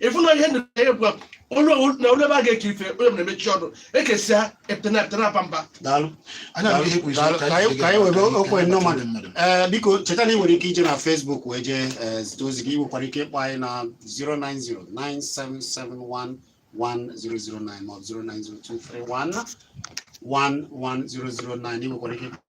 ị fụ na ihe na-eme bụ onye ọwụ- na o luo ebe a ga-eke ife onye ọbụla emechi ọnụ ekesịa a pụta na a pụta na-aba mba daalụ Anyị anụgo ihe i kwuru isi Daalụ, ka ka anyị anyị- ka anyị webe oku oku ndị mmadụ mmadụ. ee biko cheta na ị nwere ike ije na Facebook wee jee ee, zite ozi gị ị nwekwara ike ịkpọ anyị na 09097711009 ma ọ bụ 09023111009 ị nwekwara ike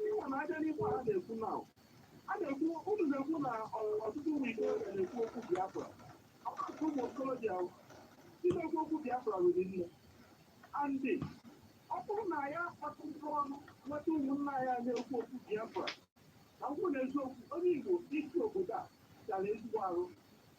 Ihe na abịa n'ikwu a na-ekwu na a na-ekwu unu na-ekwu na ọ- ọtụtụ ụmụ Igbo na-ekwu okwu Biafra. Ọtụtụ ụmụ okorobịa na-ekwu okwu Biafra riri nne. And ọ bụrụ na ya akpatụkọ ọnụ nweta ụmụnna anyị a na-ekwu okwu Biafra na ngwụ na eziokwu onye Igbo isi obodo a gara ezigbo arụ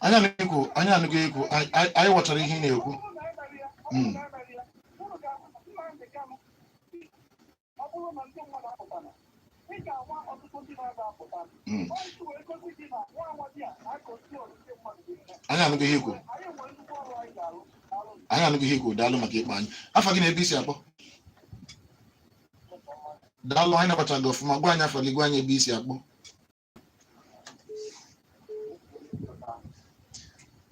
anyị anụgo anyị anụgo ihe i kwu anyị ghọtara ihe ị na-ekwu hmm. hmm. anyị anụgo ihe i kwu anyị anụgo ihe i kwu daalụ maka ịkpọ anyị afa gị na ebe i si akpọ daalụ anyị nabacha gị ọfụma gwa anyị afa gị gwa anyị ebe i si akpọ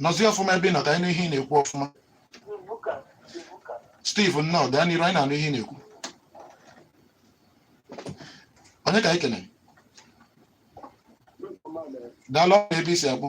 nọzie ọfụma ebe ị nọ ka anyị nụ ihe ị na-ekwu ọfụma Steve nnọọ gaa n'iru anyị na-anụ ihe ị na-ekwu onye ka anyị kenere daalụ ọrụ ebe i si akpọ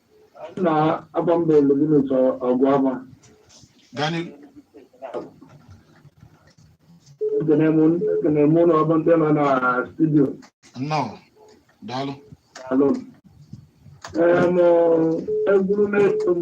na agba mba elu gị n'ụtọ ọgụ ama gaa n'iru ekene m ekene m ụlọ ọba ndị nọ na studio nnọọ daalụ alụ m egwuru na-eso m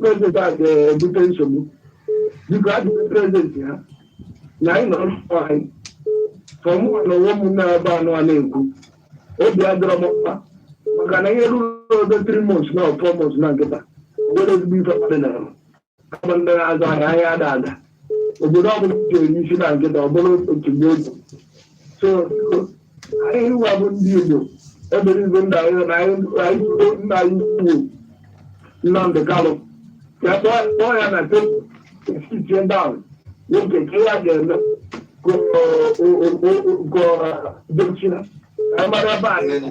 prezident a ga-ebute nsogbu biko ajụjụ prezident ha na anyị nọrọ mkpọ anyị ka mụ na onwe m na-ebe anụ a na-ekwu obi adịrọ m mma maka na ihe ruru oge three months na four months na nkịta obodo ezigbo ife mmadụ na ama kama ndị na-azụ ahịa ahịa ada ada obodo ọbụla ji eri isi na nkịta ọ bụrụ otu mgbe otu so anyị nwa bụ ndị Igbo ebere ibe nna anyị na anyị tuto nna anyị ukwu Nnamdị Kanụ ya kpọọ ya na sitie down nwoke ka ya ga-eme ka dochina anyị mara ebe anyị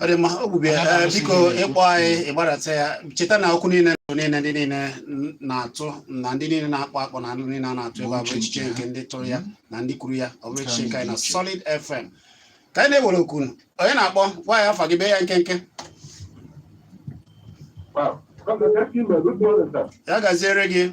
ọ dị mma ọ gbubie ya Ada Ee, Amasị biko gị. ị kpọọ anyị ị gbadata ya cheta na okwu niile bụ niile ndị niile n- na-atụ na ndị niile na-akpọ akpọ na ndị niile a na-atụ ebe a bụ echiche nke ndị tụrụ ya na ndị kwuru ya ọ bụrọ echiche nke anyị na Solid FM ka anyị na-ewere okwu unu. onye na-akpọ gwa anyị afa gị bee ya nkenke Wow. Okay, thank you, man. Good morning, sir. ya gaziere gị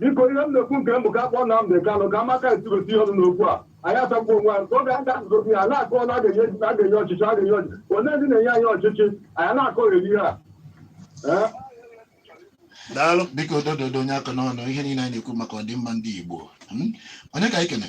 biko ihe m na-ekwu nke m bụ ka a kpọọ Nnamdị Kanụ ka amaka etigosi ihe ọnụ n'okwu a anyị asagbuo onwe anyị ka oge anyị ga-asụsụ okwu ya na-akọ na a ga-enye a ga-enye ọchịchị a ga-enye ọchịchị onye ndị na-enye anyị ọchịchị anyị na-akọgheri ihe a Ee? daalụ biko dododo onye aka n'ọnụ ihe niile anyị na-ekwu maka ọdịmma ndị Igbo Hmm? onye ka anyị kene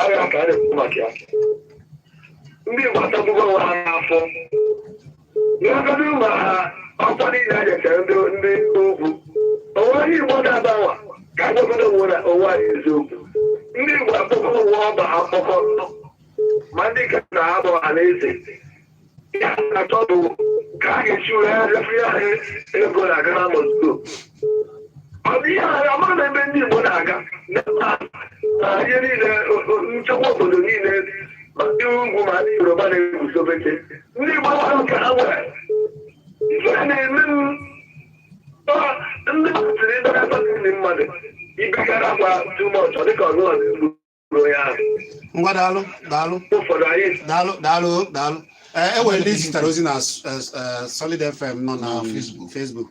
arịa ka a na-ekwu maka ya ndị Igbo atagbugo onwe ha n'afụfụ n'ọgọdụ ụlọ ha ọkwa niile a nyechara ndị ndị ugwu o nwe onye Igbo na-agbanwa ka a gwagodo onwe na onwe anyị eziokwu ndị Igbo akpọkọ onwe ọba ha mkpọkọ ma ndị ka na ha bụ Ọhanaeze ihe ha na-achọ bụ ka a ga-esi wee refere ya ego na-aga na mosdo ọ bụ ihe ahụ amara na ebe ndị Igbo na-aga na ihe niile nchekwa obodo niile ma ndị ugwu ma ndị Yoruba na-eguzobecha ndị Igbo ahụ ka ha nwere ife na-eme m ndị kwesịrị ịdara mmadụ ibegara gwa too much dịka ọzọ ọzọ ngwa daalụ daalụ daalụ daalụ daalụ eh, e nwere ndị zitere ozi na eh, eh, Solid FM nọ na mm. Facebook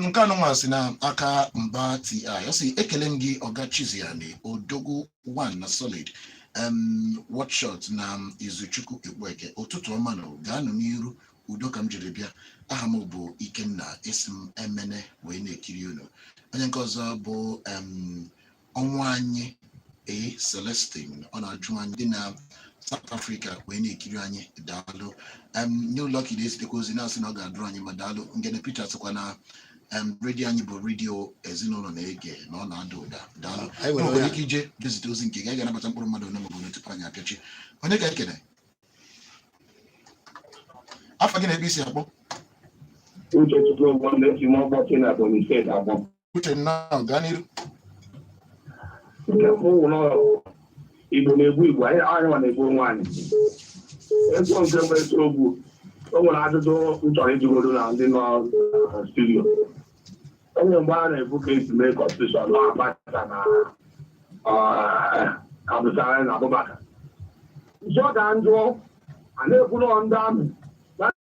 nke anụnwa si na aka Mba TI ọ sị ekele m gị ọga Chizie Ani odogwu one na Solid watchshot na Izuchukwu Ekpueke ụtụtụ ọma nụ gaanụ n'iru udo ka m jiri bịa aha m bụ Ikenna esi m Emene wee na-ekiri unu onye nke ọzọ bụ ọnwa anyị ee Celestine ọ na-ajụ anyị dị na South Africa wee na-ekiri anyị daalụ em New Lucky na-ezitekwa ozi na-asị na ọ ga-adịrị anyị mma daalụ Ngene Peter sịkwa na em redio anyị bụ redio ezinụlọ na-ege na ọ na-ada ụda daalụ Anyị nwere nwere onye ike ije dezite ozi nke gị anyị ga-anabata mkpụrụ mmadụ ole maọbụ ole tupu anyị apịachi onye ka ekene afa gị na ebe i si akpọ Uchechukwu Ogwandesi n'ọgbakọ na Ebonyi steeti Abọ. Uche nnọọ gaa n'iru nke mbụ wụ na Igbo na-egbu Igbo anyị anyị nwa na-egbu onwe anyị ego nke mbụ eziokwu o nwere ajụjụ m chọrọ ịjụgodo na ndị nọ na studio o nwere mgbe a na-ekwu ka esi mee kọnstitushọn na Abacha na Abdulsalami Abubakar jụọ ka m jụọ a na-ekwu na ndị army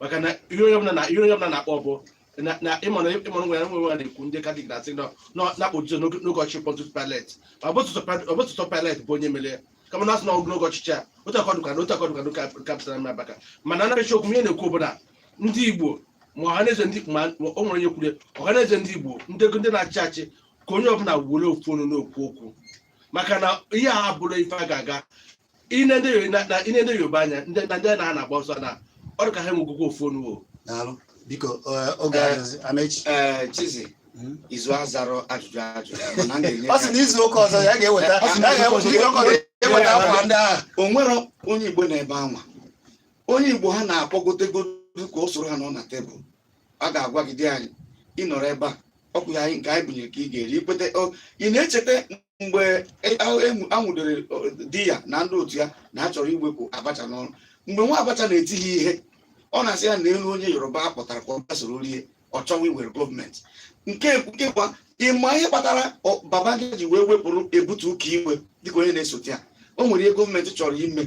maka na ihe onye ọbụla na ihe onye ọbụla na-akpọ bụ na na ịmara ịmara nwe ya nwe nwe na-ekwu ndị katọlik na-asị na na- na-akpọ Jizọs n'oge n'oge ọchịchị Pontius Pilate ma ọ bụ Pontius Pil- ọ bụ Pontius Pilate bụ onye mere ya kama na asị na ọ bụ n'oge ọchịchị a otu a ka ọ dịkwa na otu a ka ọ dịkwa n'oge a- nke Abdulsalami Abubakar mana anaghị echi okwu ihe m na-ekwu bụ na ndị Igbo ma ọhaneze ndị ma ma o nwere onye kwuru ya, ọhaneze ndị Igbo ndị ndị na-achị achị ka onye ọbụla were ofu ọnụ na-ekwu okwu maka na ihe a abụrọ ife ga-aga i nee ndị Yoruba- na- na- i nee ndị Yoruba anya ndị na ndị na ha na-agba ọsọ na ọ dị ka ha enwegokwa ofu ọnụ o daalụ biko eh, oge Eh. adịghịzi. Amechi ee Chizie Mm. Izu azarọ ajụjụ ajụjụ mana a na-enye ọ sị na izu ụka ọzọ ya ga-eweta ya ga-eweta izu ụka ọzọ ya ga-eweta akwa ndị ahụ o nwere onye Igbo n'ebe anwa onye Igbo ha na-akpọgotegodu ka o soro ha nọ na tebụl a ga-agwa gị di anyị ị nọrọ ebe a ọkwụ ya anyị nke anyị bunyere ka ị ga-eri i kweta o, ị na-echeta mgbe e- a- e- a nwụdere ọ, Diya na ndị otu ya na a chọrọ iwepụ Abacha n'ọrụ mgbe nwa Abacha na-eti ha ihe ọ na-asị ya na elu onye Yoruba a kpọtara ka ọ bịa soro rie ọ chọwa iwere gọọmenti nke nke kwa ị ma ihe kpatara ọ- Babangida ji wee wepụrụ Ebitu Ukiwe dịka onye na-esote ya o nwere ihe gọọmenti chọrọ ime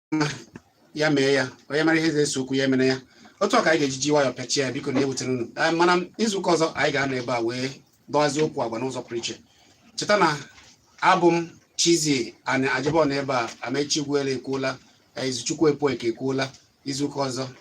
ya mee ya onye mara ihe ga-ese okwu ya emere ya otu a ka anyị ga-eji ji nwayọọ pịachie ya biko na ewutela unu Ee, mana izuụka ọzọ anyị ga-anọ ebe a wee dọwazie okwu agwa n'ụzọ pụrụ iche cheta na abụ m Chizie Ani Ajibo nọ ebe a Amechi Ugwuele ekwuola ee, Izuchukwu Ekpueke ekwuola izuụka ọzọ